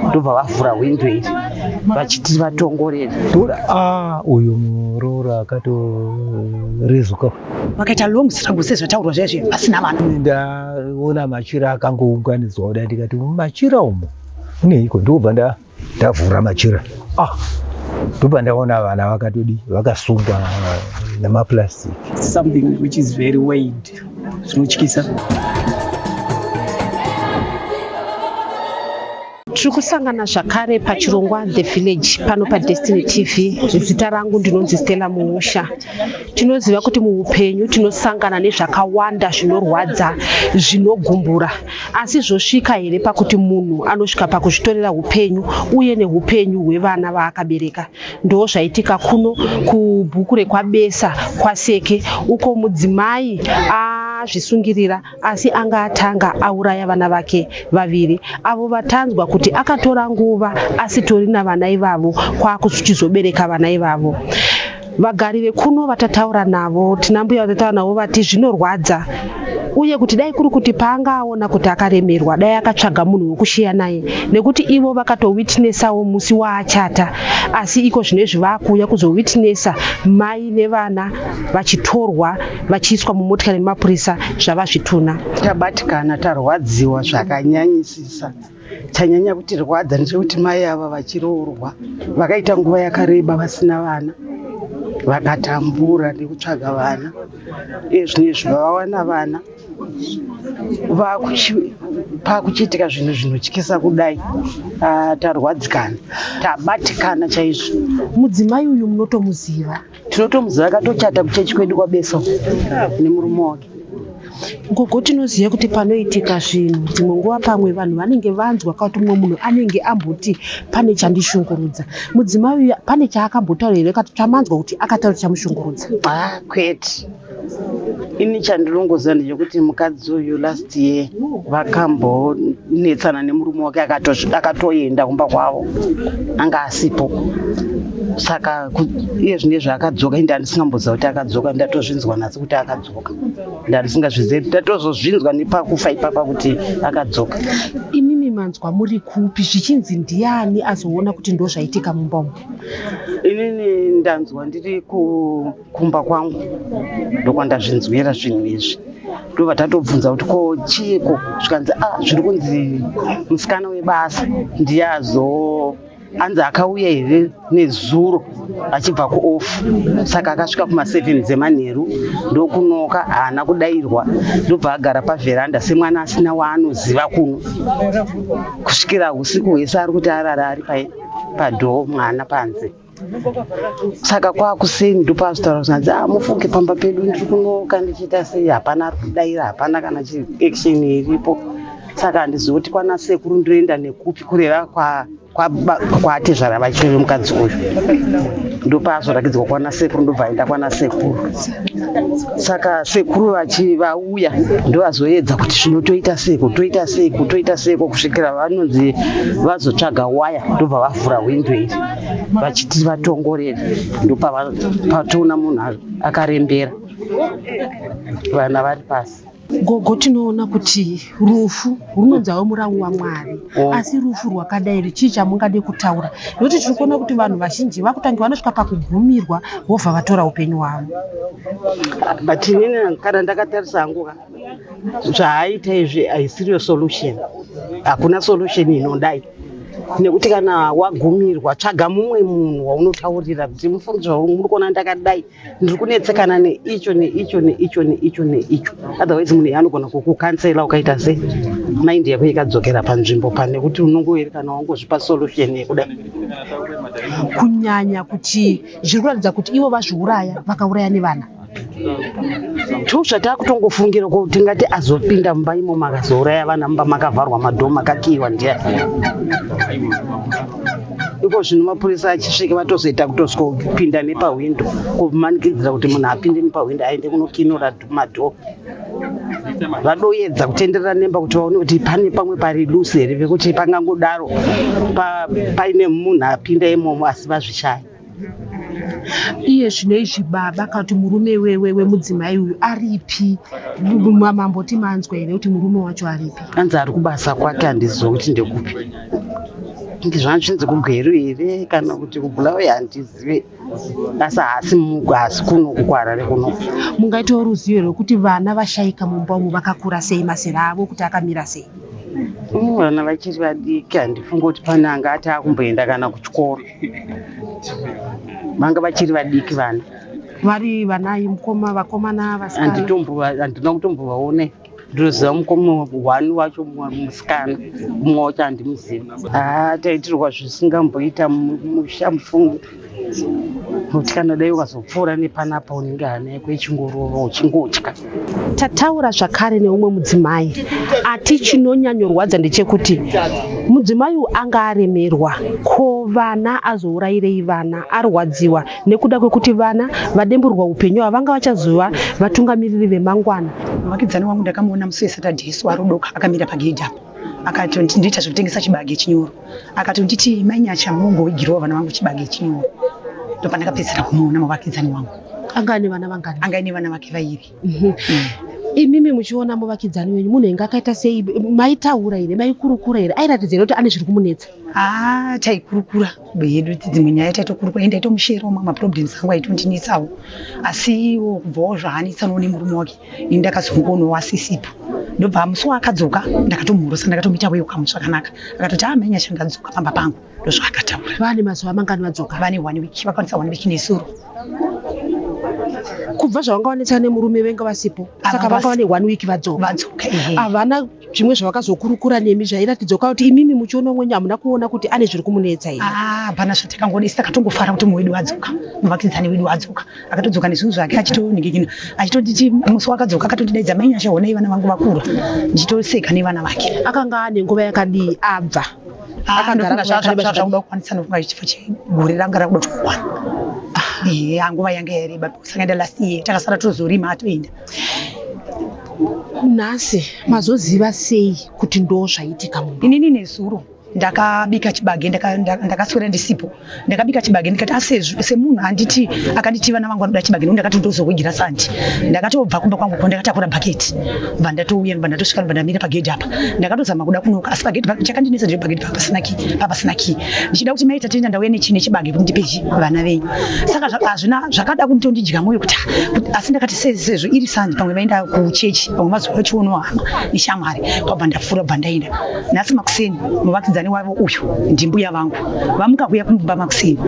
ndobva vavhura hwindo iri vachiti vatongorera toda ah, uyu muroora akatorezuka vakaita long struggle sezvataurwa zviya zviya vasina vana ndaona machira akangounganidzwa kudai ndikati mumachira umo uneiko ndikubva ndavhura machira ah ndobva ndaona vana vakatodi vakasunga nemaplastic something which is very wide zvinotyisa tiri kusangana zvakare pachirongwa the village pano padestiny tv zita rangu ndinonzi stella muusha tinoziva kuti muupenyu tinosangana nezvakawanda zvinorwadza zvinogumbura asi zvosvika here pakuti munhu anosvika pakuzvitorera upenyu uye neupenyu hwevana vaakabereka Ndoo zvaitika kuno kubhuku rekwabesa kwaseke uko mudzimai azvisungirira asi anga atanga auraya vana vake vaviri avo vatanzwa kuti akatora nguva asitori navana ivavo kwakuchizobereka vana ivavo vagari vekuno vatataura navo tinambuya vatataura navo vati zvinorwadza uye kuti dai kuri kuti paanga aona kuti akaremerwa dai akatsvaga munhu wekusheya naye nekuti ivo vakatowitnessawo musi waachata asi iko zvino izvi vaakuuya kuzowitnessa mai nevana vachitorwa vachiiswa mumotikari nemapurisa zvava zvituna tabatikana tarwadziwa zvakanyanyisisa chanyanya kutirwadza ndechekuti mai ava vachiroorwa vakaita nguva yakareba vasina vana vakatambura nekutsvaga vana ezvino izvi vavawana vana pakuchiitika zvinhu zvinotyisa kudai ah, tarwadzikana tabatikana chaizvo mudzimai uyu munotomuziva tinotomuziva akatochata kuchechi kwedu kwabeso nemurume wake gogo tinoziva kuti panoitika zvinhu dzimwe nguva pamwe vanhu vanenge vanzwa kakuti mumwe munhu anenge amboti pane chandishungurudza mudzimai uya pane chaakambotaura here kati chamanzwa kuti akataura chamushungurudza ah, kwete ini chandinongoziva ndechekuti mukadzi uyu last year vakambonetsana nemurume wake akatoenda kumba kwavo anga asipo saka iye zvine zvaakadzoka inde andisingamboziva kuti akadzoka ndatozvinzwa nhasi kuti akadzoka ndandisingazvizivi kuti ndatozozvinzwa nepakufa ipapa kuti akadzoka imimi manzwa muri kupi zvichinzi ndiani azoona kuti ndozvaitika mumba umu inini ndanzwa ndiri ku kumba kwangu ndokwandazvinzwira zvinhu izvi ndobva tatobvunza kuti ko chiiko zvikanzi a ah, zviri kunzi musikana webasa ndiye azoo hanzi akauya here nezuro achibva kuoff saka akasvika kuma7 dzemanheru ndokunoka haana kudairwa ndobva agara pavheranda semwana asina waanoziva kuno kusvikira usiku hwese ari kuti arara ari padhoo mwana panze saka kwakuseni ndopazvitaura kuti hanzi ah, mufunge pamba pedu ndiri kunoka ndichiita sei hapana ari kudaira hapana kana chiaction iripo saka handizivi kuti kwana sekuru ndoenda nekupi kureva kwa kwatezvara vacho vemukadzi uyu ndopaazorakidzwa kwana sekuru ndobva aenda kwana sekuru saka sekuru vachi vauya ndovazoedza kuti zvino toita seko toita seko toita seko kusvikira vanonzi vazotsvaga waya ndobva vavhura hwindo iri vachiti vatongorere ndopatoona munhu akarembera vana vari pasi gogo tinoona kuti rufu runonzawo murawu wamwari oh. asi rufu rwakadai chii chamungade kutaura nokuti tiri kuona kuti vanhu vazhinji vakutange vanosvika pakugumirwa vobva vatora upenyu hwavo but inini kana ndakatarisa hangu ka zvaaita izvi haisiriyo solution hakuna solution inodai nekuti kana wagumirwa tsvaga mumwe munhu waunotaurira kuti mufungidzwa wangu muri kuona ndakadai ndiri kunetsekana neicho neicho neicho neicho neicho otherwise munhu iye anogona kukukansela ukaita sei maindi yako ikadzokera panzvimbo pane kuti unongoerekana wangozvipa solution yekuda kunyanya kuti zviri kuratidza kuti ivo vazviuraya vakauraya nevana tosva takutongofungira ko tingati azopinda mumba imo makazouraya vana mumba makavharwa madhoo makakiiwa ndiya iko zvino mapurisa achisvika vatozoita kutozopinda nepahwindo kumanikidzira kuti munhu apinde nepahwindo aende kunokinura madhoo vadoyedza kutenderera nemba kuti vaone kuti pane pamwe pari lusi here vekuti pangangodaro paine munhu apinda imomo asi vazvishaya iye zvino izvi baba kana kuti murume wemudzimai uyu aripi mamboti manzwa here kuti murume wacho aripi anzi ari kubasa kwake handiziva kuti ndekupi kuti zvanzi zvinzi kugweru here kana kuti kubulawe handizive asi haasi mugo haasi kuno kukwarare kuno mungaitawo ruzivo rwekuti vana vashaika mumba umu vakakura sei mazera avo kuti akamira sei vana vachiri vadiki handifungi kuti pane anga ati akumboenda kana kuchikoro vanga vachiri vadiki vana vari vanai mukoma vakomana vasikana Anditombo- handina kutombovaone ndinoziva mukoma one wacho mu- musikana mumwe wacho handimuziva haa taitirwa zvisingamboita mu- musha mufungi kuti kana dai ukazopfuura nepanapa unenge hana yako ichingorova uchingotya Tataura zvakare neumwe mudzimai ati chinonyanyorwadza ndechekuti mudzimai uyu anga aremerwa ko vana azourayirei vana arwadziwa nekuda kwekuti vana vademburwa upenyu ava vanga vachazova vatungamiriri vemangwana muvakidzani wangu ndakamuona musi wesaturday isu arudoka akamira pagedhi apo akati ndiita zvekutengesa chibage chinyoro Akati nditi mai Nyacha mungoigirawo vana vangu chibage chinyowa. Ndopandakapedzisira kumuona muvakidzani wangu. Anga ane vana vangani? Anga ane vana vake vairi. Mm -hmm. mm. Imimi muchiona muvakidzani wenyu munhu inga akaita sei maitaura here maikurukura here airatidza here kuti ane zviri kumunetsa? Ah, taikurukura yedu dzimwe nyaya taitokurukura ende aitomusherawo mamwe maproblems angu aitondinetsawo asi iwo kubvawo zvaanetsanwo nemurume wake ini ndakazongonowa sisipo ndobva musi waakadzoka ndakatomhorosa ndakatomuita weyo kamu zvakanaka akatoti amhenya ah, shandadzoka pamba pangu ndozvaakataura vane mazuva mangani vadzoka vane one week vakwanisa one week nesuro kubva zvavanga vanetsana nemurume venge vasipo saka vanga vane one week vadzoka vadzoka havana zvimwe zvavakazokurukura nemi zvairatidza kuti imimi muchiona mwenyu hamuna kuona kuti ane zviri kumunetsa here ah, hapana zvati takangoona isi takatongofara kuti mumwe wedu wadzoka muvakidzani wedu wadzoka akatodzoka nezvinhu zvake achitoningikina achitotiti musi wakadzoka akatotidaidza mai nyasha honai vana vangu vakura ndichitoseka nevana vake akanga ane nguva yakadii abva ah, akagara zvazvakuda kukwanisa nofunga chifo chegore ranga rakuda kukwana ah. ehe nguva yange yareba kusanga enda last year takasara tozorima atoenda nhasi mazoziva sei kuti ndo zvaitika mumba inini nezuro ndakabika chibage ndakaswera ndisipo ndakabika chibage ndikati asi ah, semunhu anditi akanditi vana vangu vanoda chibage ndakati ndozohugira santi ndakatobva kumba kwangu ko ndakatakura bhaketi bva ndatouya bva ndatosvika bva ndamira pagedhi apa ndakatozama kuda kunoka asi pagedhi chakandinetsa ndiri pagedhi papasina kii ndichida kuti mai Tatenda ndauya nechi nechibage kuti ndipe chi vana venyu saka zva- hazvina zvakada kundondidya mwoyo kuti ah, kuti- asi ndakati se- sezvo iri sanje pamwe vaenda kuchechi pamwe mazuva achionawo hama neshamwari kwabva ndafura bva ndaenda nhasi makuseni muvakidzani wavo uyu ndimbuya vangu vamuka kuya kumba makuseni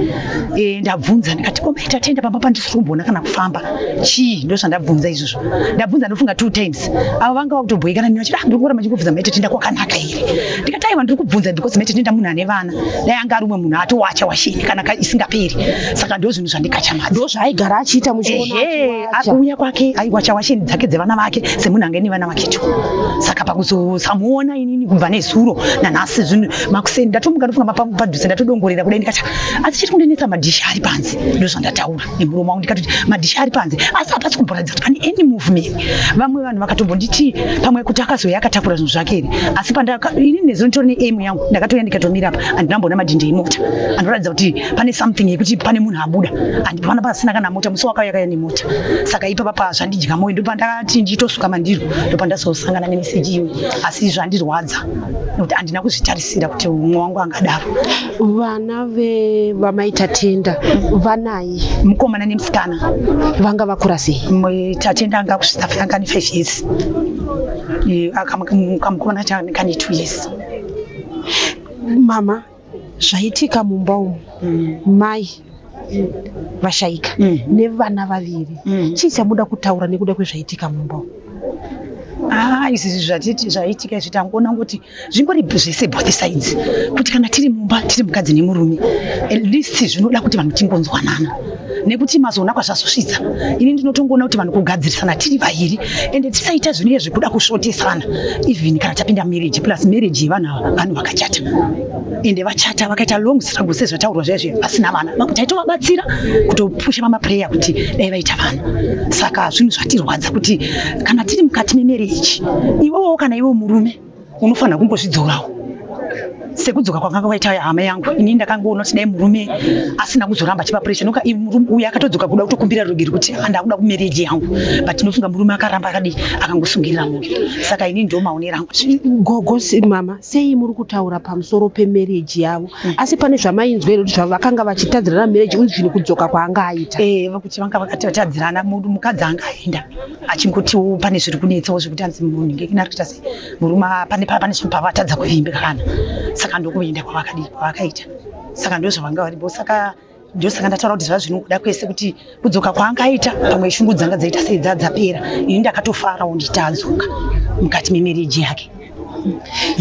Eh, ndabvunza ndikati ko mai Tatenda pamba pandisiri kumboona kana kufamba chii ndozvandabvunza izvozvo ndabvunza ndofunga two times avo vanga vakutobhoikana neni vachiti "Ah, ndiri kuramba ndichikubvunza mai Tatenda kwakanaka here ndikati aiwa ndiri kubvunza because mete tinoenda munhu ane vana dai anga ari umwe munhu atowacha washini kana ka- isingaperi saka ndo zvinhu zvandikachamadza ndozvaaigara achiita muchiona ehe achiwacha. akuuya kwake aiwacha washeni dzake dzevana vake semunhu ange nevana vakecho saka pakuzosamuona inini kubva nezuro nanhasi zvinhu makuseni ndatomuka ndofunga mapa- padhuze ndatodongorera kudai ndikati asi chiri kundinetsa madhishi ari panze ndozvandataura nemuromo wangu ndikatoti madhishi ari panze asi hapasi kumboratidza kuti pane any movement vamwe vanhu vakatombonditi pamwe kuti akazouya akatakura zvinhu zvake here asi ini nezuro nditori neemu yangu ndakatouya ndikatomira apa handina mboona madhindi emota anoratidza kuti pane something yekuti pane munhu abuda handipana pasina kana mota musi wakauya kaya nemota saka ipapa pa zvandidya moyo ndopandakati nditosuka mandiro ndopandazosangana nemeseji iyoyi asi zvandirwadza nekuti handina kuzvitarisira kuti umwe wangu angadaro vana vevamai tatenda vanai mukomana nemusikana vanga vakura sei tatenda anga kusvitsa fanga ne five years akamukomana chaaneka ne two years mama zvaitika mumba umu mm. mai vashaika mm. nevana vaviri mm. chii chamuda kutaura nekuda kwezvaitika mumba umu ah, izvi zvaitika izvi tangoona kuti zvimbori zvese both sides kuti kana tiri mumba tiri mukadzi nemurume at least zvinoda kuti vanhu tingonzwanana nekuti mazoona kwazvazosvitsa ini ndinotongoona kuti vanhu kugadzirisana tiri vaviri ende tisaita zvinenge zvekuda kusvotesana even kana tapinda marriage plus marriage yevanhu ava vanhu vakachata ende vachata vakaita long struggle sezvataurwa zviya zviya vasina vana vamwe taitovabatsira kutopusha mamaprayer kuti dai vaita vana saka zvinhu zvatirwadza kuti kana tiri mukati memereji iwewo kana iwe murume unofanira kungozvidzorawo sekudzoka kwakanga kwaita hama yangu ini ndakangoona kuti dai murume asina kuzoramba chipa pressure noka uyu akatodzoka kuda kutokumbira rugiri kuti andakuda kumereji yangu but ndinofunga murume akaramba akadii akangosungirira moyo saka ini ndomaonera angu gogo mama sei muri kutaura pamusoro pemarriage yavo mm. asi pane zvamainzwa here kuti vakanga vachitadzirana marriage uyu zvinhu kudzoka kwaanga aita eh, kuti vanga vakati vatadzirana mukadzi anga aenda achingotiwo pane zviri kunetsawo zvekuti anzi munhinge kina rikuita sei murume pane pane zvinhu pavatadza kuvimbikana saka ndokuenda kwavakadii kwavakaita saka ndozvavanga varipo saka ndosaka ndataura kuti zvaa zvinokuda kwese kuti kudzoka kwaangaita pamwe shungu dzanga dzaita sei dzadzapera ini ndakatofarawo nditadzoka mukati memereji yake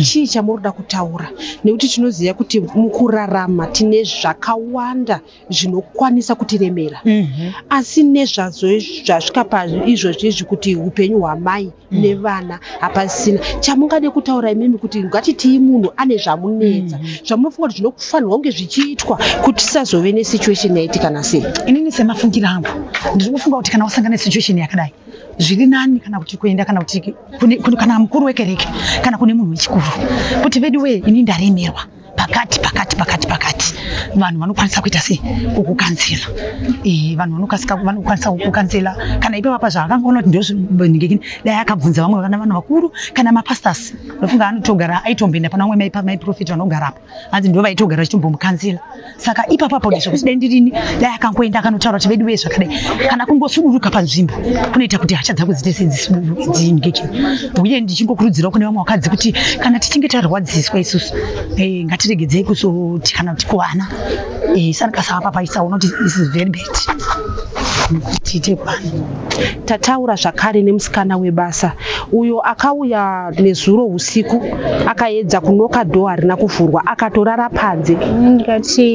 chii chamurikuda kutaura nekuti tinoziva kuti mukurarama tine zvakawanda zvinokwanisa kutiremera mhm. asi nezvazvo zvasvika paizvozvi izvi kuti upenyu hwamai nevana hapasisina chamungade kutaura imimi kuti ngatitii munhu ane zvamunetsa mm. zvamunofunga kuti zvinofanirwa kunge zvichiitwa kuti tisazove nesituation yaitika nasei inini semafungiro angu ndiri kufunga kuti kana wasangana nesituation yakadai zviri nani kana kuti kuenda kana kuti kana mukuru wekereke kana kune munhu wechikuru kuti veduwee ini ndaremerwa pakati pakati pakati pakati vanhu vanokwanisa kuita sei kukukanzila eh, vanhu vanokasika vanokwanisa kukukanzila kana ipa vapa zvaakangoona kuti ndozvinengekini dai akabvunza vamwe vana vanhu vakuru kana mapastors ndofunga anotogara aitomboenda pana vamwe maipa maiprofeti vanogara apa hanzi ndo vaitogara vachitombomukanzila saka ipapo apo ndizvo kusidai ndirini dai akangoenda akanotaura kuti vedu vee zvakadai kana kungosuduruka panzvimbo kunoita kuti hasha dzangu dzite sedziingeje uye ndichingokurudzirawo kune vamwe vakadzi kuti kana tichinge tarwadziswa isusu eh, ngatiregedzei kuzotikana kuti kuvana eh, sanikasava papaisaona kuti this is very bad tiite pani tataura zvakare nemusikana webasa uyo akauya nezuro usiku akaedza kunoka dho harina kuvhurwa akatorara panze ndikati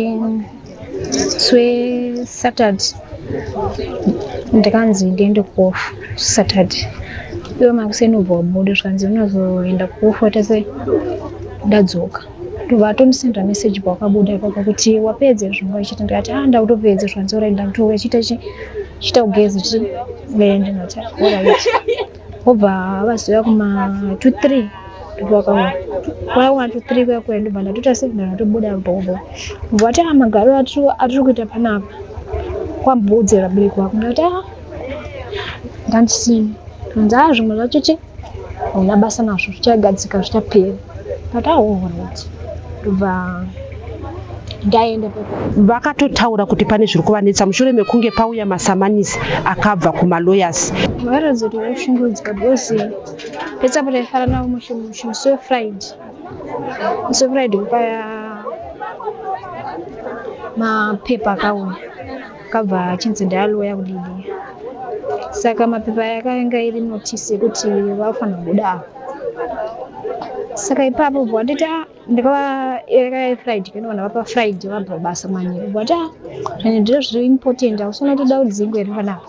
swe saturday ndikanzi ndiende kuofu saturday iwe makuseni ubva wabuda zvikanzi unozoenda kuofu watese ndadzoka ndobva atondisendera message pawakabuda ipapo kuti wapedze zvanga ichita ndikati a ah, ndakutopedze zvanzora ndakutouya chita chi chita kugeza chi then ndinati alright wobva vazoya kuma two three ndobva wakaona kwaya kuma two three kuya kuya ndobva ndatoita signal ndatobuda bhobo ndobva ati a ah, magaro atiri kuita panapa kwambodzera bereki wako ndati a ah, ndandisini hanzi a zvimwe zvacho chii hauna basa nazvo zvichagadzika zvichapera but aohoroti ndobva ndaenda vakatotaura kuti pane zviri kuvanetsa mushure mekunge pauya masamanisi akabva kumalawyers vakaratidza kuti vaishungurudzika because petsapota ifara navo musi wefriday musi wefriday kupaya mapepa akauya akabva achinzi ndaloya kudidi saka mapepa yakanga iri notisi yekuti vafanira kubuda apa saka ipapo bwatiti a ndikavaekaefriday kanoona vapa friday vabva basa manje bwati a zvine ndiro zviri important ausona kuti dau dzingu here panapa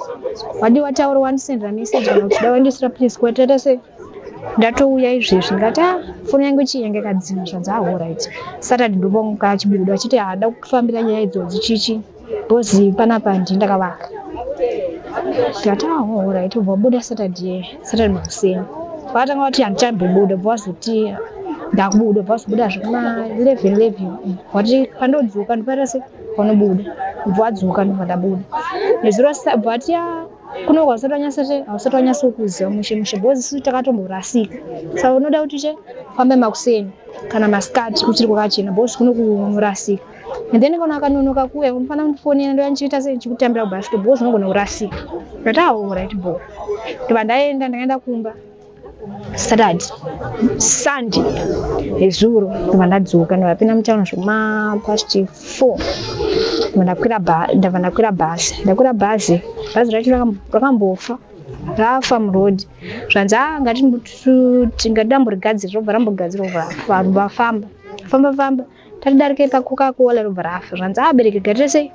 wadi wataura wandisendera message kana kuti dau wandisira please kwatata se ndatouya izvezvi ndikati a foni yangu chii yange kadzima zvadzahora iti saturday ndobonga chibudo achiti haada kufambira nyaya idzodzi chichi Bozi panapa handii ndakavaka ndikati oh, right ubva wabuda saturday saturday makuseni vakatanga vati handichambobuda bva vazoti ndakubuda bva vazobuda zvekuma 11 11 vati pandodzoka ndiparira se vanobuda bva vadzoka ndobva ndabuda nezuro bva vati ya kuno kwausati wanyasa che hausati wanyasa kuziva mushe mushe bhozi suti takatomborasika saka unoda kuti che fambe makuseni kana masikati kuchiri kwakachena bhozi kuno kunorasika and then kana akanonoka kuuya unofana kundifonera ndoya ndichiita sei ndichikutambira kubhasiketi bho zvinogona kurasika ndati aorit ah, bho ndobva ndaenda ndakaenda kumba saturday sunday nezuro ndobva ndadzoka ndovapinda mutown zvema past four ndabva ndakwira bhazi ndakwira bhazi bhazi racho rakambofa rafa muroad zvanzi a ah, ngatingati ndamborigadzira robva rambogadzira vafamba famba famba tatidarike pacoca cola robva rafa zvanzi abereki garira sei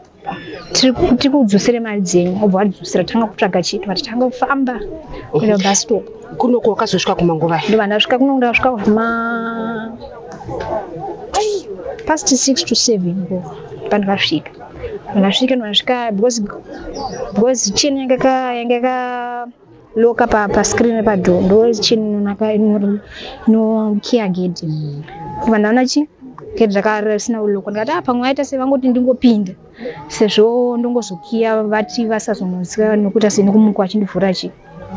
tikudzosere mari dzenyu obva wadzosera tanga kutsvaga chito vati tanga kufamba kuenda bastop kunoko wakazosvika kumanguva ndova ndasvika kunoko ndasvika kuma past six to seven ko pandikasvika ndasvika ndasvika because because chini yanga yanga loka pa, pa screen repadhoo ndo chini inonaka inori no kia gate kubva ndaona chi gate raka risina kulokwa ndikati ah pamwe vaita sei vangoti ndingopinde sezvo ndongozokiya vati vasazonoziva nokuita sei nekumukwa achindivhura chi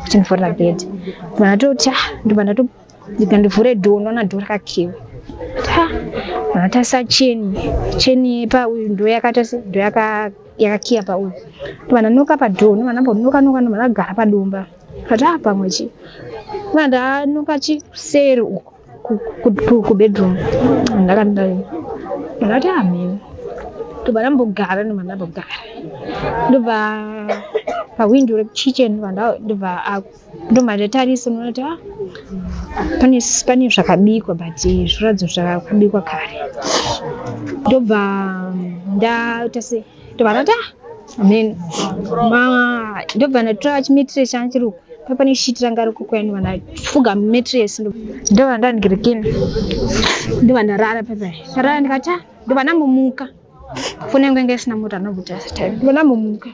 achindivhurira gate kubva ndatoti ah ndobva ndatopa ndibva ndivhure dhoo ndoona dhoo rakakiwa vakatarisa cheni cheni pauyu ndo yakatarisa ndo yakakiya pauyu ndovana noka padhoo ndovana ndambonokanoka ndovana gara padomba kati a pamwe chi ndovana ndanoka chi seri uko kubedroom ndakandai ndakati amheni ndobva ndambogara ndobva ndambogara ndobva pahwindo rekuchichen ndobva ndobva ndatarisa unoona kuti ah, pane pane zvakabikwa but zviratidzo zvakabikwa kare ndobva ndaita se ndobva ndati ah, then ma- ndobva ndatora chimetire changu chiri uku pa pane shiti ranga riko kuya ndobva ndafuga metres ndobva ndandirekena ndobva ndarara pepa ndarara ndikati ah, ndobva ndangomuka kunenge inge isina moto anobuda time vona mumuka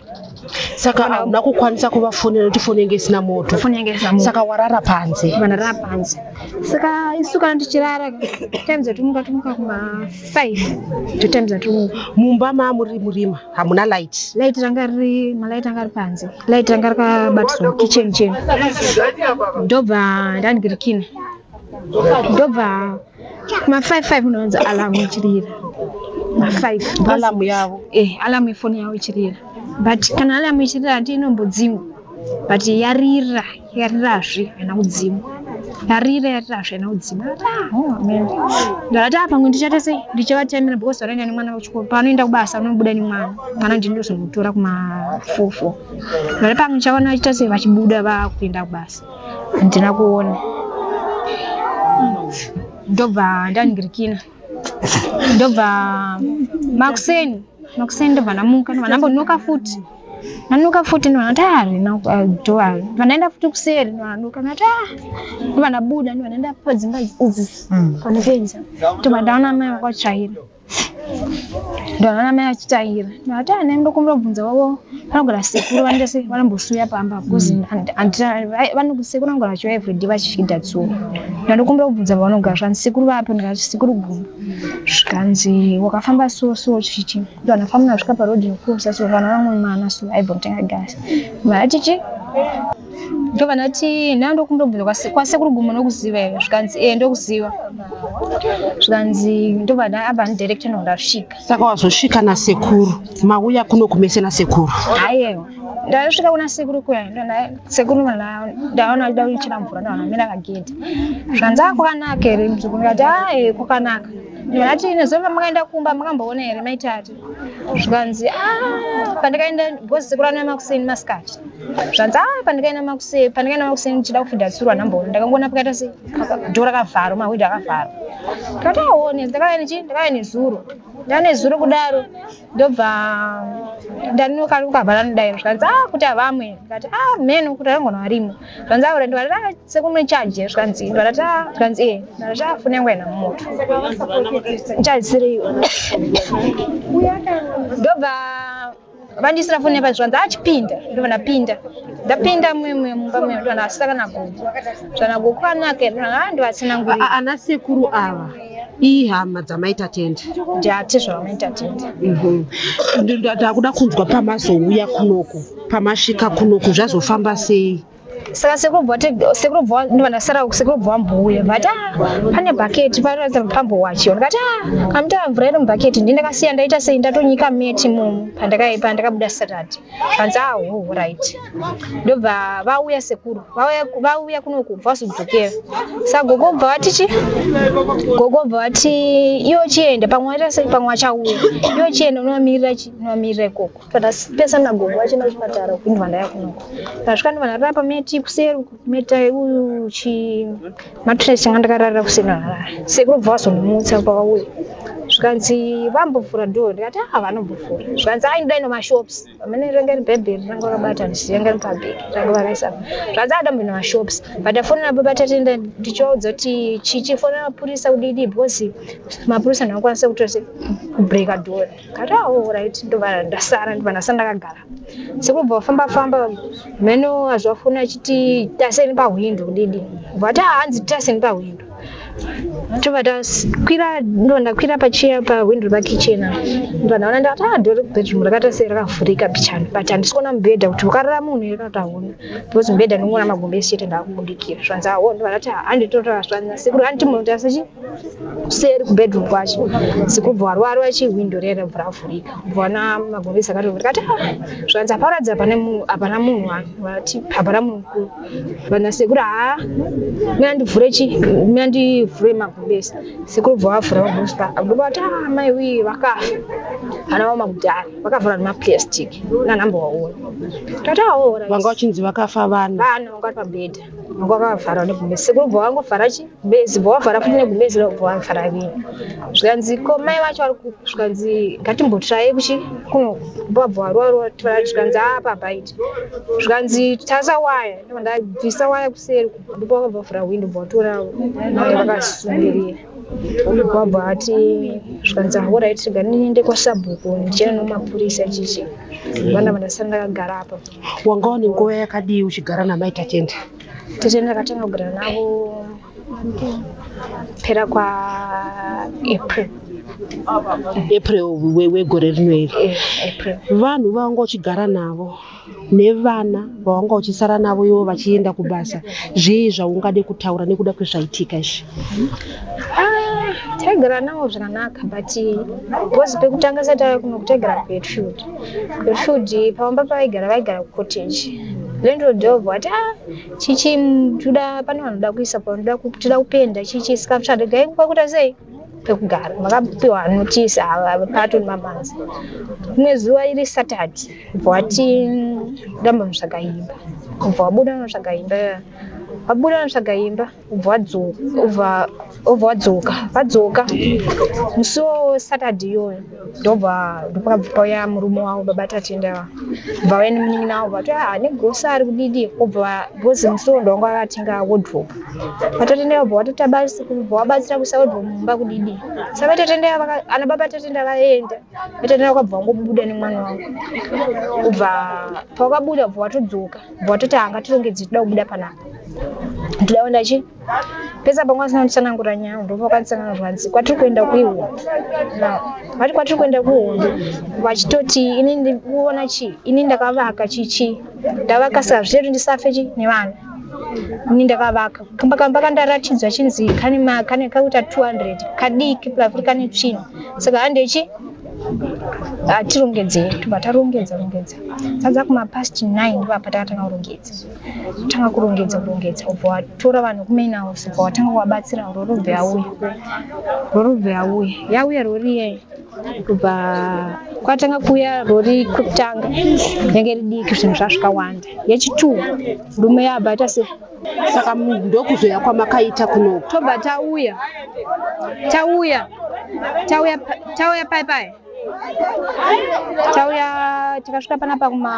saka hauna kukwanisa kuvafonera kuti foni inge isina moto foni inge isina moto saka warara panze vanarara panze saka isu kana tichirara times atumuka tumuka kuma 5 to times atumuka mumba mamuri murima hamuna light light ranga riri malight anga ari panze light ranga rakabatiswa kitchen chenu ndobva ndandirikina ndobva ma 55 unonzi alamu ichirira ma 5 alamu yavo eh alamu ifoni yavo ichirira but kana alamu ichirira hati inombodzimwa but yarira yarirazve haina kudzimwa yarira yarirazve haina kudzimwa ndakati apa ngo ndichaita sei ndichavatemera because vanoenda nemwana kuchikoro paanoenda kubasa vanobuda nemwana mwana ndindozomutora kuma four four ndati pamwe ndichaona vachiita sei vachibuda vakuenda kubasa handina kuona ndobva ndandirikina ndobva makuseni makuseni ndobva ndamuka ndobva ndambonuka futi nanuka futi ndobva ndati ah rina dhoa ndobva ndaenda futi kuseri ndobva ndanuka ndati ah ndobva ndabuda ndobva ndaenda padzimba idzi Mm. panopedza ndobva ndaona mai vakatsvaira ndona namai vachitaira ndati ana ndokumbira kubvunza vavo vanogara sekuru vanoita sei vanombosuya pamba bcause sekuru vanogara vachiva everyday vachida dzuva ndandokumbira kubvunza vavanogara zvanzi sekuru vapo ndikati sekuru guma zvikanzi wakafamba so so chichi ndona famuna svika paroad yokusa so vana vamwe mana so aibva kutenga gasi mati chi ndobva ndati nda ndokumbira kubvunza kwasekuru gumo nokuziva here zvikanzi e ndokuziva zvikanzi ndobva apa ndidirector no ndasvika saka wazosvika nasekuru mauya kuno kumese nasekuru haiyewa ndasvika kuna sekuru kuya sekuru ndaona achida kuchera mvura ndaona mira kagedhi zvanzi akwanaka here mzukuru ndikati ae kwakanaka ndati nezova makaenda kumba makamboona here maitati zvikanzi ah, pandikaenda because sekuru anouya makuseni masikati zvanzi a ah, pandikaenda makuseni pandikaenda makuseni ndichida kufidha tsurwa nhamboro ndakangoona pakaita se dho rakavharwa mahwindo akavharwa ndikati aone ah, ndakauya nechi ndakauya nezuro ndava nezuro kudaro ndobva ndanokari kukavhara nodai zvikanzi a kuti havamwe ndikati a mheno kuti arangona varimo zvanzi aure ah, ndwara ra sekune charge zvanzi ndwara ta zvanzi e ndwara ta fune ngwena mumoto charge siri ndobva vandisira fone pa zvanzi achipinda ah, ndovana pinda ndapinda mumwe mumba mwe ndovana asira kana gogo zvana gogo anake ndovana ah, ndovasina nguri ana sekuru ava ihama dzamaita tende ndiati zvavamaita tende mhm. ndakuda kunzwa pamazouya kunoku pamasvika kunoku zvazofamba sei saka sekuru bva ndivandasara sekuru bva vambouya but ah, pane bhaketi panoratidza kuti pambowachiwa ndikati ah, kamutara mvura iri mubhaketi ndi ndakasiya ndaita sei ndatonyika meti mumu pandakabuda saturday vanzi ah ho right ndobva vauya sekuru vauya kunoku bva vazodzokera sa gogo bva vati chi gogo bva vati iwo chienda pamwe waita sei pamwe wachauya iwo chienda unovamirira chi unovamirira ikoko kana pesa nagogo vachenda kuchipatara kupindwa ndaya kunoko ndasvika ndivanhu rapa meti kuseri meta uyu chi matres changa ndakararira kuseri narara sekuru bva vazondimutsa pavauya zvikanzi vambovhura dho ndikati a vanombovhura zvikanzi ai ndidai nemashops amene ranga ri bhaibheri ranga rakabata ndisiranga ri pabheki ranga vakaisa zvikanzi a dambo nemashops but afonera baba tatenda ndichivaudza kuti chichifonera mapurisa kudidi because mapurisa ndinokwanisa kutosi kubreaka dhora Kati awo right ndobva ndasara ndobva ndasara ndakagara. Sekubva famba famba mheno azvafuna achiti taseni pahwindo kudidi. Vati ah hanzi taseni pahwindo. Tobva takwira ndobva ndakwira pachiya pahwindo pakitchen apa. Ndobva ndaona ndati ah ndori bedroom rakaita sei rakavhurika bichana but handisi kuona mubhedha kuti wakarara munhu here kana kuti hauna because mubhedha ndinongoona magumbezi chete ndakubudikira. Zvanzi awo ndobva ndati ah handitorara zvanzi nasekuru handitombotarisa chi kuseri kubedroom kwacho sikubva warwara wachihwindo riya rabva ravhurika kubva wana magomesi akatovhurika ati ah, zvanzi haparatidzi hapana munhu hapana munhu vati hapana munhu mukuru vana sekuru haa ah, mi andivhure chi mi andivhure magomesi sekuru bva vavhura magomesi pa agoba vati a ah, mai wii vakafa vana vavo makudhara vakavhura nemaplastic nanhamba waona tati aora vanga vachinzi vakafa vana vana vanga vari pabhedha vanga vakavharwa negomesi sekuru bva vangovhara chi bezi bwavavhara futi negubezi ravo bwavavhara vii zvikanzi ko mai vacho vari ku- zvikanzi ngatimbotraye kuchi kuno babvaruarua zvikanzi aa pabaiti zvikanzi tasa waya ndobva ndabvisa waya kuseri ndipo vakabva vavhura hwindo bvatora mai vakasungirira ndobva ati zvikanzi ahorait rega ndiende kwasabhuku ndichena nomapurisa chichi vana vandasara ndakagara apa wanga une nguva yakadii uchigara namai tachende tete ndakatanga kugara navo pera kwaapril april wegore rino iri eh, vanhu vavanga uchigara navo nevana vavanga uchisara navo ivo vachienda kubasa zvii zvaungade kutaura nekuda kwezvaitika izvi ah, taigara navo zvakanaka but bcoz pekutanga satava kuno kutaigara kuedfield Rutshudi pamba pavaigara vaigara kucottage landlord of vati ah chichi ndoda pane vanoda kuisa panoda kutoda kupenda chichi isikapshanda gai kwakuita sei pekugara vakapiwa notice ava pato nemamanzi rimwe zuva iri saturday bva vati ndambonotsvaga imba bva vabuda vanotsvaga imba vabuda vanotsvaga imba ubva wadzoka vadzoka musi wo saturday iyoyo ndobva ndopakauya murume wavo baba tatenda va bva vaine munin'ina wavo vati ah ne grosa ari kudidi obva because musi wo ndovanga vakatenga wardrop vatatenda vabva vatotabasa kubva wabatsira kuisa wardrop mumba kudidi sa vatatenda ana baba tatenda vaenda vatatenda vakabva vangobuda nemwana wavo ubva pawakabuda ubva watodzoka watoti hanga tirongedze toda kubuda panapa ndoda kuenda chii pesa pangu asina kutsanangura nyaya ndobva kwandisangana zvanzi kwatiri kuenda kuihondo vati kwatiri kuenda kuihondo vachitoti ini ndikuona chii ini ndakavaka chichii ndavaka saka zvichati ndisafe chii nevana ini ndakavaka kamba kamba kandaratidzwa chinzi kane ma- kane kakuita 200 kadiki plaviri kane tsvina saka handei chii hatirongedzei ah, tobva tarongedza rongedza sadza kumapast 9 ndopapa takatanga kurongedza tanga kurongedza kurongedza ubva watora vanhu kumain house ubva watanga kuvabatsira rorobve yauya rorobve yauya yauya rori iyeye kubva kwatanga kuuya rori kutanga yange ridiki zvinhu zvazvikawanda yechitu rume yabva ita se saka ndokuzouya kwamakaita kuno tobva tauya tauya tauya tauya pai pai tauya takasvika pana pakuma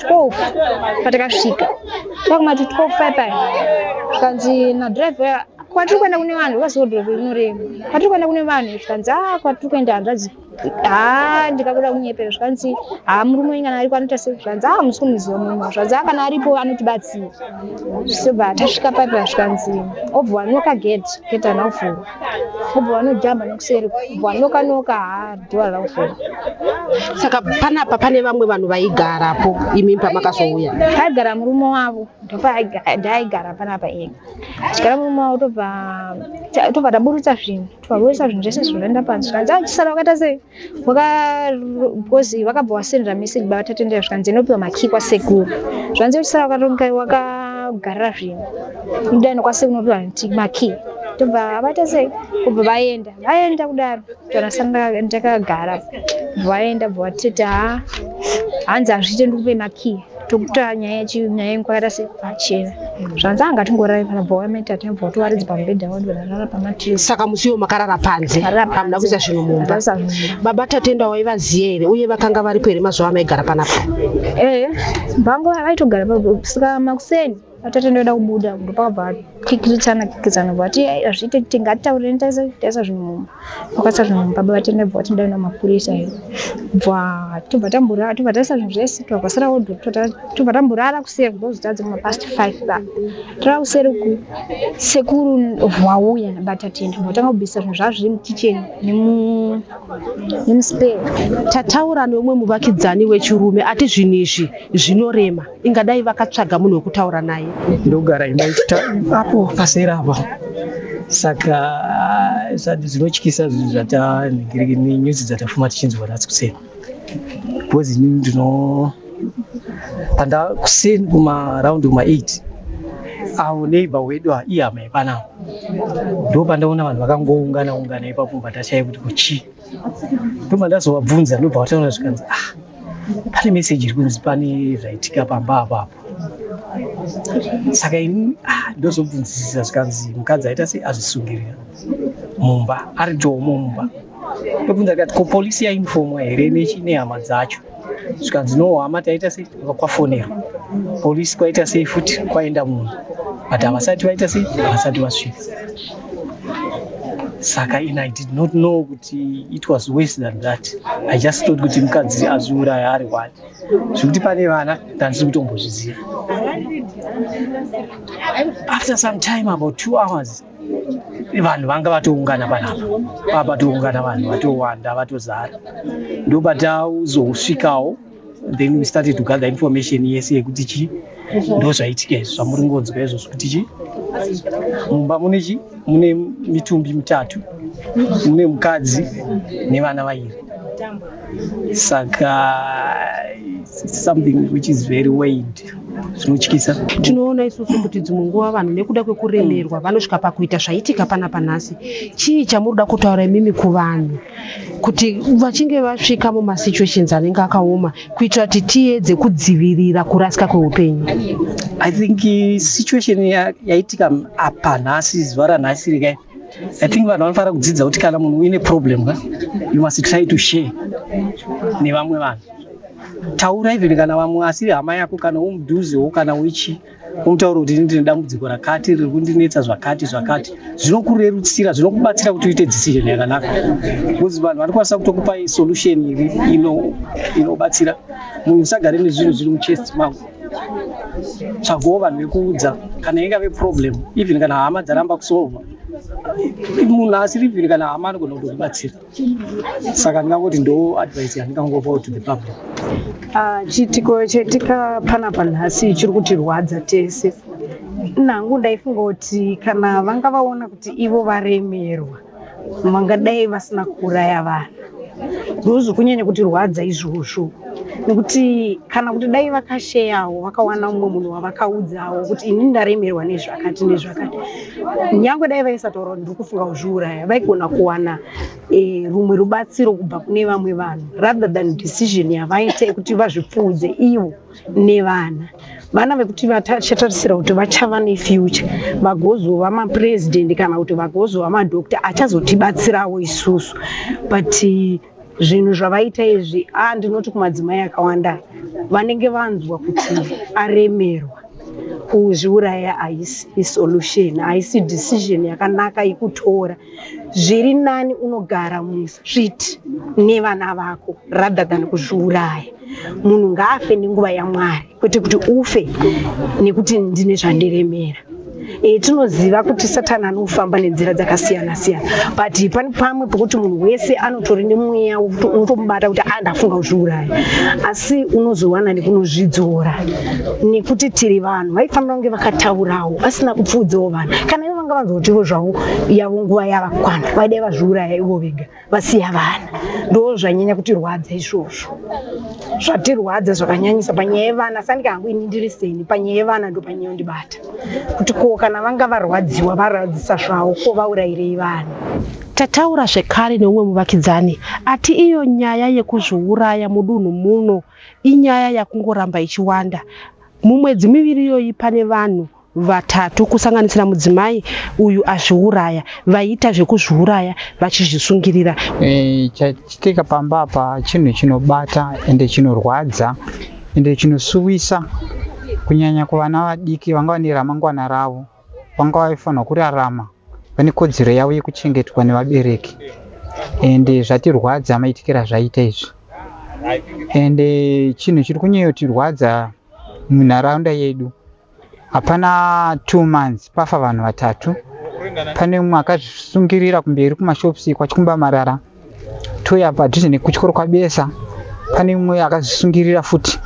12 patakasvika pakuma 12 pai pai zvikanzi nadriver kwatiri kuenda kune vanhu vaziodoro rinorema kwatiri kuenda kune vanhu zvikanzi a ah, kwatiri kuenda hanzvadzi haa ndikakuda kunyepera zvikanzi haa murume wenyu kana aripo anoita sei zvikanzi haa musi kumuziva murume zvikanzi haa kana aripo anotibatsira zvisobva tasvika paipa zvikanzi obva wanoka gate gate hana kuvhura obva wanojamba nekuseri obva wanoka noka haa dhora hana kuvhura saka panapa pane vamwe vanhu vaigarapo imi pamakazouya aigara murume wavo ndopaigara panapa iye chigara murume wavo tobva tobva taburutsa zvinhu Twavoisa zvinhu zvese zvinoenda pansi zvikanzi achisara ah, wakaita sei wakakozi vakabva wasendera message baba tatendera zvikanzi inopiwa makii kwasekuru zvanzi uchisara wakatonga wakagarira zvinhu ndidani kwasekuru unopiwa makii tobva abata sei kubva vaenda vaenda kudaro torasana ndakagara vaenda bva vatiti ha hanzi hazviite ndikupe makii tokuta nyaya nyaya yenguva yakaita sepachena zvanzi anga tingorari panobva wameta tinobva watowaridza pamubhedha wadi vakarara pamatree saka musi iwo makarara panze Makarara panze. hamuna kuisa zvinhu mumba Ndasa mumba. baba tatenda waivaziva here uye vakanga varipo here mazuva amaigara panapa eh vangu vaitogara pa- saka makuseni atete ndoenda kubuda ndopakabva kikirichana kikirichana bva ati hazviite kuti ngatitaurire taisa zvinhu mumba vakasa zvinhu mumba baba tende bva vati ndaenda mapurisa iyo bva tobva tamborara tobva taisa zvinhu zvese tobva kwasara odho tobva tamborara kuseri ndozotadza kuma past five ba tara kuseri ku sekuru vauya nabata tende bva tanga kubvisa zvinhu zvavo zviri mukicheni nemuspare tataura neumwe muvakidzani wechirume ati zvinhu izvi zvinorema Ingadai vakatsvaga munhu wekutaura naye. Ndogara imba apo pasera apa saka zvanhu zvinotyisa zvinhu zvatanhingiriki nenyuzi dzatafuma tichinzwa nhasi kuseni because ini ndino panda kuseni kumaraundi kuma8 avo neighbor wedu iye hama yepanapa ndo pandaona vanhu vakangoungana ungana ipapo patashaya kuti kuchii ndo pandazovabvunza ndobva vataura zvikanzi ah pane meseji iri kunzi pane zvaitika pamba apo apo saka ini ah, ndozobvunzisisa zvikanzi mukadzi aita sei azvisungirira mumba ari jomo mumba ndobvunza tikati ko polisi yainifomwa here nehama dzacho zvikanzi no hama taita sei kwafonerwa polisi kwaita sei futi kwaenda munhu but havasati vaita sei havasati vasvika saka in i did not know kuti it was worse than that i just thought kuti mukadzi azviuraya ari one zvekuti pane vana ndandisiri kutombozviziva after some time about two hours vanhu vanga vatoungana panapa pava patoungana vanhu vatowanda vatozara ndobatauzosvikawo then we started to gather information yese yekuti chii ndo zvaitika izvi zvamuri ngonzwa izvozvo kuti chii mumba mune chii mune mitumbi mitatu mune mukadzi nevana vairi saka something which is very weighed zvinotyisa tinoona isusu kuti dzimwe nguva vanhu nekuda kwekuremerwa vanosvika pakuita zvaitika pana panhasi chii chamuruda kutaura imimi kuvanhu kuti vachinge vasvika mumasituations anenge akaoma kuitira kuti tiedze kudzivirira kurasika kweupenyu i think eh, situation yaitika apa nhasi zuva ranhasi rikai i think vanhu vanofanira kudzidza kuti kana munhu uine problem ka you must try to share nevamwe vanhu taura even kana vamwe asiri hama yako kana umudhuzewo kana uichii unotaura kuti ini ndine dambudziko rakati riri kundinetsa zvakati zvakati zvinokurerutsira zvinokubatsira kuti uite decision yakanaka bcause vanhu vanokwanisa kutokupai solution iri inobatsira munhu usagare nezvinhu zviri muchest mako tsvagawo vanhu vekuudza kana ingave problem even kana hama dzaramba kusolva munhu asiri even kana hama anogona kutokubatsira saka ndingangoti ndo advice yandingangopa to the public ah, chiitiko chaitika panapa nhasi chiri kutirwadza tese nangu ndaifunga kuti kana vanga vaona kuti ivo varemerwa vangadai vasina kuuraya vana ndozvo kunyanya kuti rwadza izvozvo nekuti kana kuti dai vakasheyawo vakawana umwe munhu wavakaudzawo kuti ini ndaremerwa nezvakati nezvakati nyangwe dai vaisataura ndiri kufunga kuzviuraya vaigona kuwana e, rumwe rubatsiro kubva kune vamwe vanhu rather than decision yavaita yekuti vazvipfuudze ivo nevana vana vekuti vachatarisira kuti vachava nefuture vagozova mapurezidendi kana kuti vagozova madokta achazotibatsirawo isusu but zvinhu zvavaita izvi a ndinoti kumadzimai akawanda vanenge vanzwa kuti aremerwa kuzviuraya haisi isolution haisi decision yakanaka yekutora zviri nani unogara mustreet nevana vako rather than kuzviuraya munhu ngaafe nenguva yamwari kwete kuti ufe nekuti ndine zvandiremera e, tinoziva kuti satani anofamba nenzira dzakasiyana siyana but pane pamwe pokuti munhu wese anotori nemweya unotomubata kuti andafunga ah, kuzviuraya asi unozowana nekunozvidzora nekuti tiri vanhu vaifanira kunge vakataurawo asina kupfuudzawo vanhu kana ivo vanga vanzotivo zvavo yavo nguva yavakwana vaidai vazviuraya ivo vega vasiya vana ndo zvanyanya kutirwadza izvozvo zvatirwadza zvakanyanyisa panyaya yevana sandika hangu ini ndiri seni panyaya yevana ndo panyaya yondibata kuti ko kana vanga varwadziwa varwadzisa zvavo ko vaurayirei vana Tataura zvekare neumwe muvakidzani ati iyo nyaya yekuzviuraya mudunhu muno inyaya yakungoramba ichiwanda. Mumwedzi miviri iyoyi pane vanhu vatatu kusanganisira mudzimai uyu azviuraya vaiita zvekuzviuraya vachizvisungirira e, chachitika pamba apa chinhu chinobata ende chinorwadza ende chinosuwisa kunyanya kuvana vadiki vanga vane ramangwana ravo vanga vaifanirwa kurarama vane kodzero yavo yekuchengetwa nevabereki ende zvatirwadza maitikira zvaita izvi ende chinhu chiri kunyanyotirwadza munharaunda yedu hapana two months pafa vanhu vatatu pane mumwe akazvisungirira kumberi kumashops ikwa chikumba marara touya padhuze nekutyoro kwabesa pane mumwe akazvisungirira futi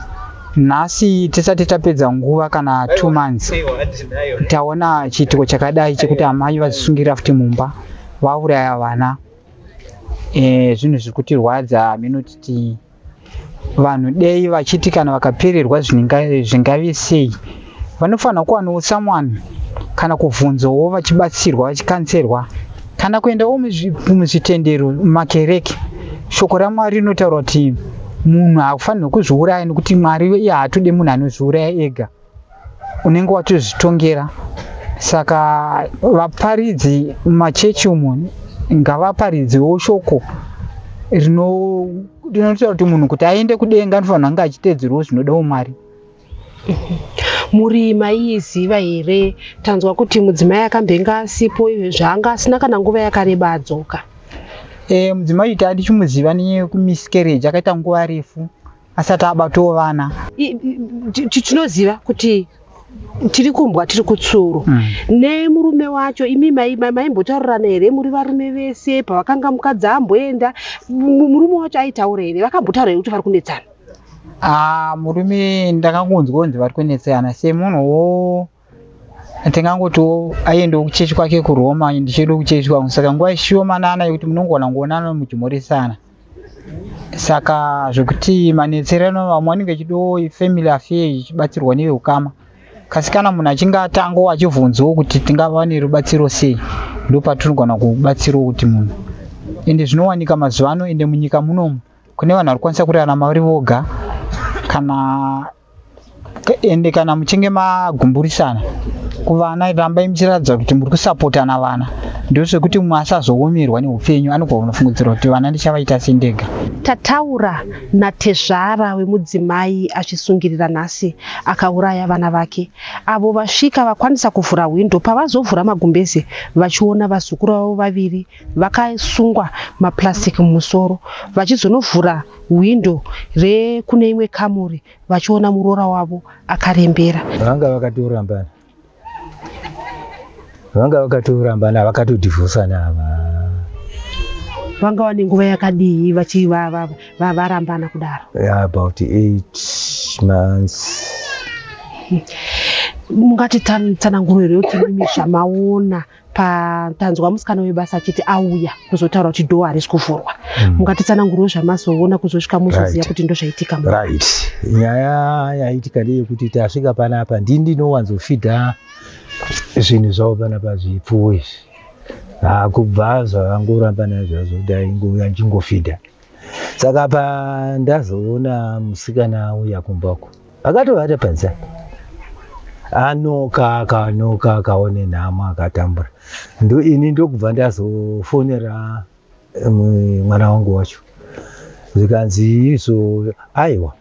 nhasi tisati tapedza nguva kana two months taona chiitiko chakadai chekuti amai vazvisungirira futi mumba vauraya vana e, zvinhu zviri kutirwadza minutiti vanhu dei vachiti kana vakapererwa zvingave sei vanofanira kuwanawo someone kana kubvunzowo vachibatsirwa vachikanserwa kana kuendawo muzvitendero mumakereke shoko ramwari rinotaura kuti munhu hakufanirwa kuzviuraya nekuti mwari iye haatode munhu anozviuraya ega unenge watozvitongera saka vaparidzi mumachechi umu ngavaparidzewo shoko rino- rinotaura kuti munhu kuti aende kudenga anofanira kunge achiteedzerwo zvinoda umwari mhuri maiiziva here tanzwa kuti mudzimai akambenga asipo ive zvaanga asina kana nguva yakareba adzoka Eh, mudzimai uyu tadichimuziva nekumiscarriage akaita nguva refu asati abatawo vana I- i- ti- ti- tinoziva kuti tiri kumbwa tiri kutsuro Mm. nemurume wacho imi mai- mai- maimbotaurirana here muri varume vese pavakanga mukadzi amboenda mu- murume wacho aitaura here vakambotaura here kuti vari kunetsana Ah, murume ndakangonzwa kunzi vari kunetsana semunhuwo tingangotiwo aiendawo kuchechi kwake kuroma ndichienda kuchechi kwangu saka nguva ishomanana yekuti munongona kuonana muchimhoresana saka zvekuti manetserano vamwe vanenge vechidiwo family affair ichibatsirwa neveukama kasi kana munhu achinge atangawo achibvunzawo kuti tingava nerubatsiro sei ndo patinogona kubatsirawo kuti munhu ende zvinowanika mazuva ano ende munyika munomu kune vanhu vari kwanisa kurarama vari voga kana ende kana muchinge magumburisana kuvana rambai muchiratidza kuti muri kusapotana vana ndozvekuti mumwe asazoomerwa neupenyu anobva unofungidzira kuti vana ndichavaita sendega tataura natezvara wemudzimai achisungirira nhasi akauraya vana vake avo vasvika vakwanisa kuvhura hwindo pavazovhura magumbeze vachiona vazukuru vavo vaviri vakasungwa maplastic mumusoro vachizonovhura hwindo rekune imwe kamuri vachiona muroora wavo akarembera vanga vakatorambana vanga vakatorambana vakatodhivhosana ava vanga vane nguva yakadii vachivarambana kudaro about eight months mungati tsananguro here kuti mimi zvamaona patanzwa musikana webasa achiti auya kuzotaura kuti dhoo harisi kuvhurwa hmm. mungatitsanangurwo zvamazoona kuzosvika muzoziva kuti ndozvaitika right nyaya yaitika ndeyekuti tasvika panapa ndi ndinowanzofidha zvinhu zvavo panapa zvipfuwo izvi hakubva ah, zvavangoramba nazvazvo ndaingouya ndingofidha saka pa ndazoona musikana uya kumbako akatovata panze anoka akanoka akaone nhamo akatambura ndo ini ndokubva ndazofonera eh, mwana wangu wacho zvikanzi izvo aiwa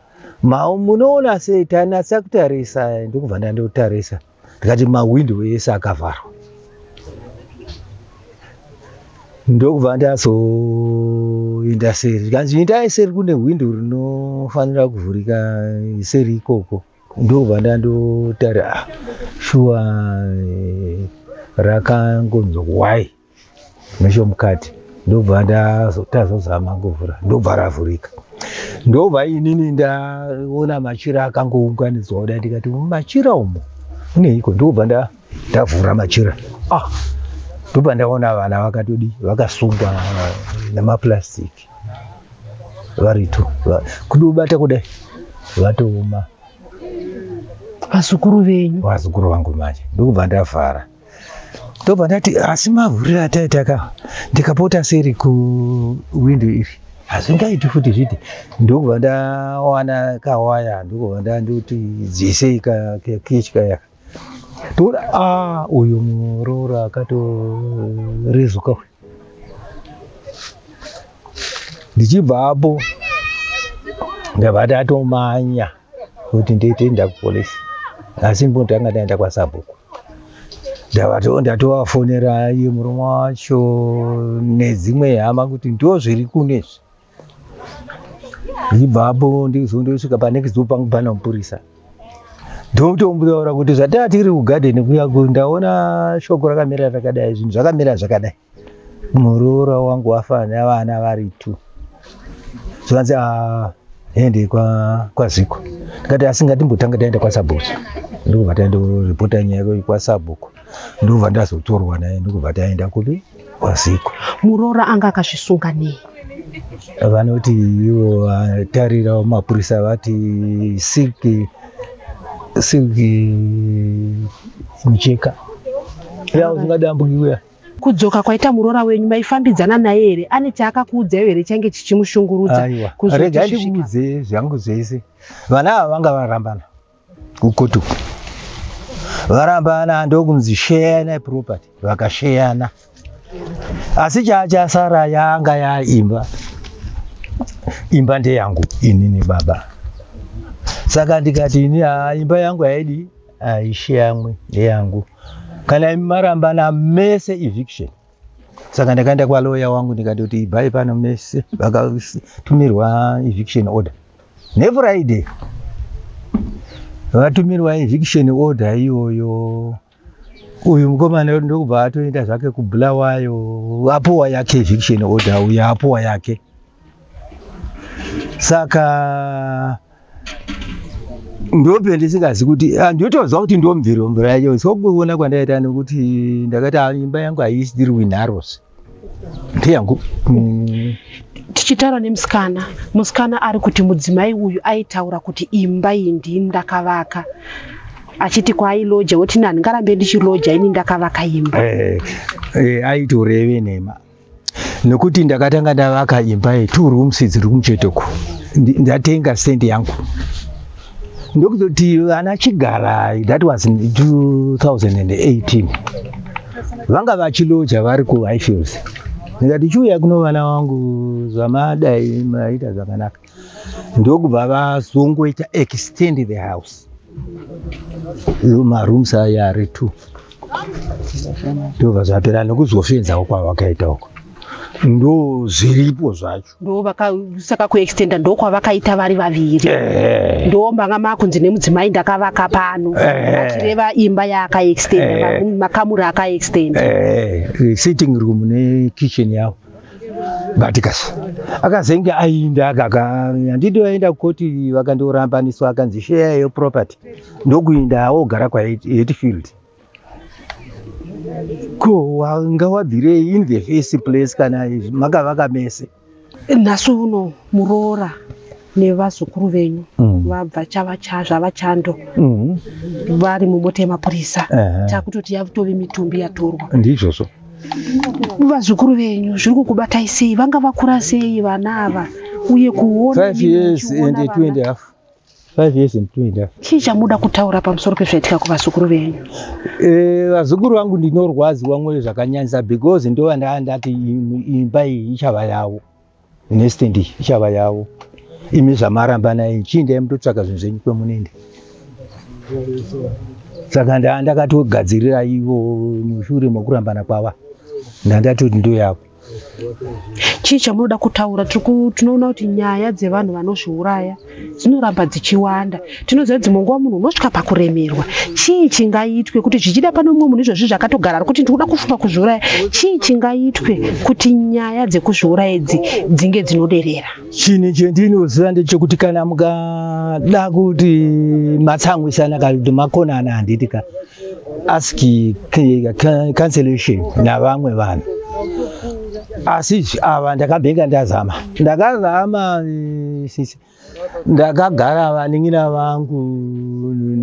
mau munoona sei tanatsa kutarisa ndokubva ndandotarisa ndikati mahwindo ese akavharwa ndokubva ndazoinda seri ndikanzi indai seri kune hwindo rinofanira kuvhurika seri ikoko ndokubva ndandotara ah, shuwa eh, rakangonzwa kuwai nechomukati ndobva tazozama kuvhura ndobva ravhurika ndobva inini ndaona machira akangounganidzwa kuda ndikati machira umo uneiko ndobva ndavhura machira ah ndobva ndaona vana vakatodi vakasungwa nemaplastic varito kudobata kudai vatooma vazukuru venyu vazukuru vangu manje ndokubva ndavhara ndobva ndati asi mavhuriro ataita ka ndikapota seri kuwindo iri hazvingaiti futi zviti ndokubva ndawana kawaya ndokubva ndandoti dzisei kakechi kayaka toona a ah, uyu muroora akatorezuka uyu ndichibva apo ndabva ndatomanya kuti nditoenda kupolice asi mbotanga ndaenda kwasabhuku ndatovafonera iye murume wacho nedzimwe hama kuti ndo zviri kunezvi ndibvapo ndizondosvika panext door pangu pana mupurisa ndotomutaura kuti zvataa tiri kugadheni kuya ndaona shoko rakamira rakadai zvinhu zvakamira zvakadai muroora wangu wafa nevana vari two zvanzi aende ah, kwaziko ndikati asi ngatimbotanga taenda kwasabhuku ndikubva taenda kuripota nyaya kwasabhuku ndikubva ndazotorwa naye ndikubva taenda kupi kwaziko muroora anga akazvisunga nei vanoti ivo vatarira mapurisa vati siki siki micheka yausingadi ambuyiwe Kudzoka kwaita muroora wenyu maifambidzana naye here? Ane chaakakuudzaiwo here change chichimushungurudza? Aiwa, rega ndikuudze zvangu zvese. Vana ava vanga varambana kukotu varambana ndokunzi sheyana property vakasheyana asi chaachasara yanga yaimba imba ndeyangu inini baba saka ndikati ini imba yangu haidi Ah, ishe yamwe neyangu kana imi marambana mese eviction saka ndakaenda kwaloya wangu ndikatoti ibhai pano mese vakatumirwa eviction order nefriday vatumirwa eviction order iyoyo uyu mukomana ndokubva atoenda zvake kubulawayo apuwa yake eviction order uyu apuwa yake saka ndope ndisingazi kuti ah, ndotozwa kuti ndomviro mvura yacho so kuona kwandaita nekuti ndakati ah, imba yangu haisiri winharos ndeyangu mm. tichitaura nemusikana musikana ari kuti mudzimai uyu aitaura kuti imba iyi ndii ndakavaka achiti kwaailoja woti nani ngarambe ndichiloja ini ndakavaka imba eh, eh, aitoreve nema nekuti ndakatanga ndavaka imba ye two rooms dziri kumuchetoko ndatenga stand yangu ndokuzoti vana chigara that was 2018 vanga vachiloja vari kuhighfields ndikati chiuya kuno vana wangu zvamadai maita zvakanaka ndokubva vazongoita extend the house marooms aya ari two ndobva zvapera nekuzofenzawo kwavakaita uko ndo zviripo zvacho ndosaka kuextenda ndokwavakaita vari vaviri ndo manga makunzi nemudzimai ndakavaka pano achireva imba yaakaextenda makamuri akaextenda sitting room nekitchen yavo but kasi akazenge ainda handidi vaenda kukoti vakandiorambaniswa akanzi sheya yeyo property ndokuinda ogara kwahetfield ko wanga wabvirei in the face place kana makavaka mese nhasi uno muroora nevazukuru venyu mm. vabva chava cha zvava chando mm. vari mumota yemapurisa uh -huh. takutoti yatove mitumbi yatorwa ndizvozvo vazukuru venyu zviri kukubatai sei vanga vakura sei vana ava uye kuona chii chamuda kutaura pamusoro pezvaitika kuvazukuru venyu eh, vazukuru e, vangu ndinorwadziwa mwoyo zvakanyanyisa because ndovandandati imba iyi ichava yavo next ndi ichava yavo imi zvamaramba naye chiindai mutotsvaga zvinhu zvenyu kwemunende saka ndakatogadzirira ivo mushure mokurambana kwava ndandati kuti ndoyako chii chamunoda kutaura tinoona kuti nyaya dzevanhu vanozviuraya dzinoramba dzichiwanda tinoziva dzimwe nguva munhu unosvika pakuremerwa chii chingaitwe kuti zvichida pane umwe munhu izvozvi zvakatogara ari kuti ndikuda kufunga kuzviuraya chii chingaitwe kuti nyaya dzekuzviuraya idzi dzinge dzinoderera chinhu chendinoziva ndechekuti kana mukada kuti matsamwisana kana kuti makonana handiti ka ask cancellation navamwe vanhu asi ava ndakabhenga ndazama ndakazama eh, sisi ndakagara vaningina vangu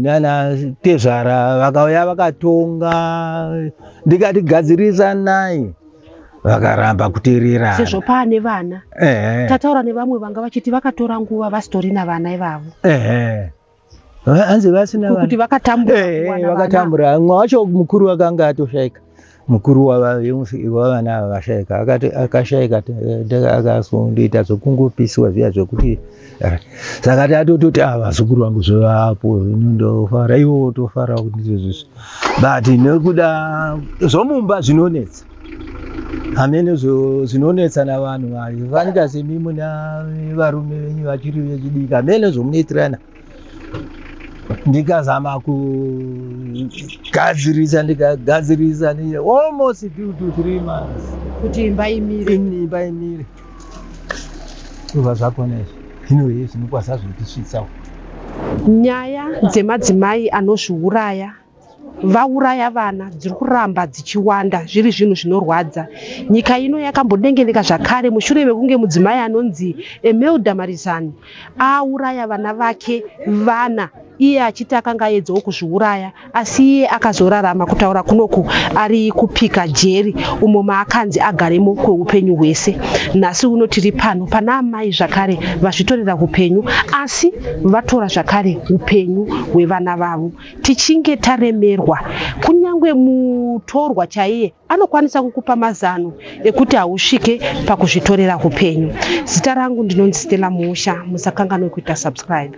nana tezvara vakauya vakatonga ndikati gadzirisa nai vakaramba kutererana sezvo paane vana tataura nevamwe vanga vachiti vakatora nguva vasitorina vana ivavo hanzi vasina kuti vana vakatambura Eh, kuwana vana. vakatambura mumwe wacho mukuru wakanga atoshaika mukuru wava- vemufi- wavana ava vashaika Akati- akashaika ta- ta- akasundoita zvekungopisiwa zviya zvekuti ah, saka tatototi ah, vazukuru vangu zvovapo zvino ndofara iwo wotofara kuti ndizvo zvisu but nekuda zvomumba zvinonetsa hameno zvinonetsa navanhu vayo vanika semi muna varume venyu vachiri vechidiki hameno zvomunoitirana ndikazama kugadzirisa ndikagadzirisa almost two to three months kuti imba imire imba imire kuva zvakona izvi zvino hei zvinokwasa zvotisvitsawo nyaya dzemadzimai anozviuraya vauraya vana dziri kuramba dzichiwanda zviri zvinhu zvinorwadza nyika ino yakambodengeneka zvakare mushure mekunge mudzimai anonzi emelda marizani auraya vana vake vana iye achiti akanga aedzawo kuzviuraya asi iye akazorarama kutaura kunoku ari kupika jeri umo maakanzi agaremo kweupenyu hwese nhasi uno tiri pano pana amai zvakare vazvitorera upenyu asi vatora zvakare upenyu hwevana vavo Tichinge taremerwa, kunyange mutorwa chaiye anokwanisa kukupa mazano ekuti hausvike pakuzvitorera upenyu. Zita rangu ndinonzi Stella Muusha, musakanganwe kuita subscribe.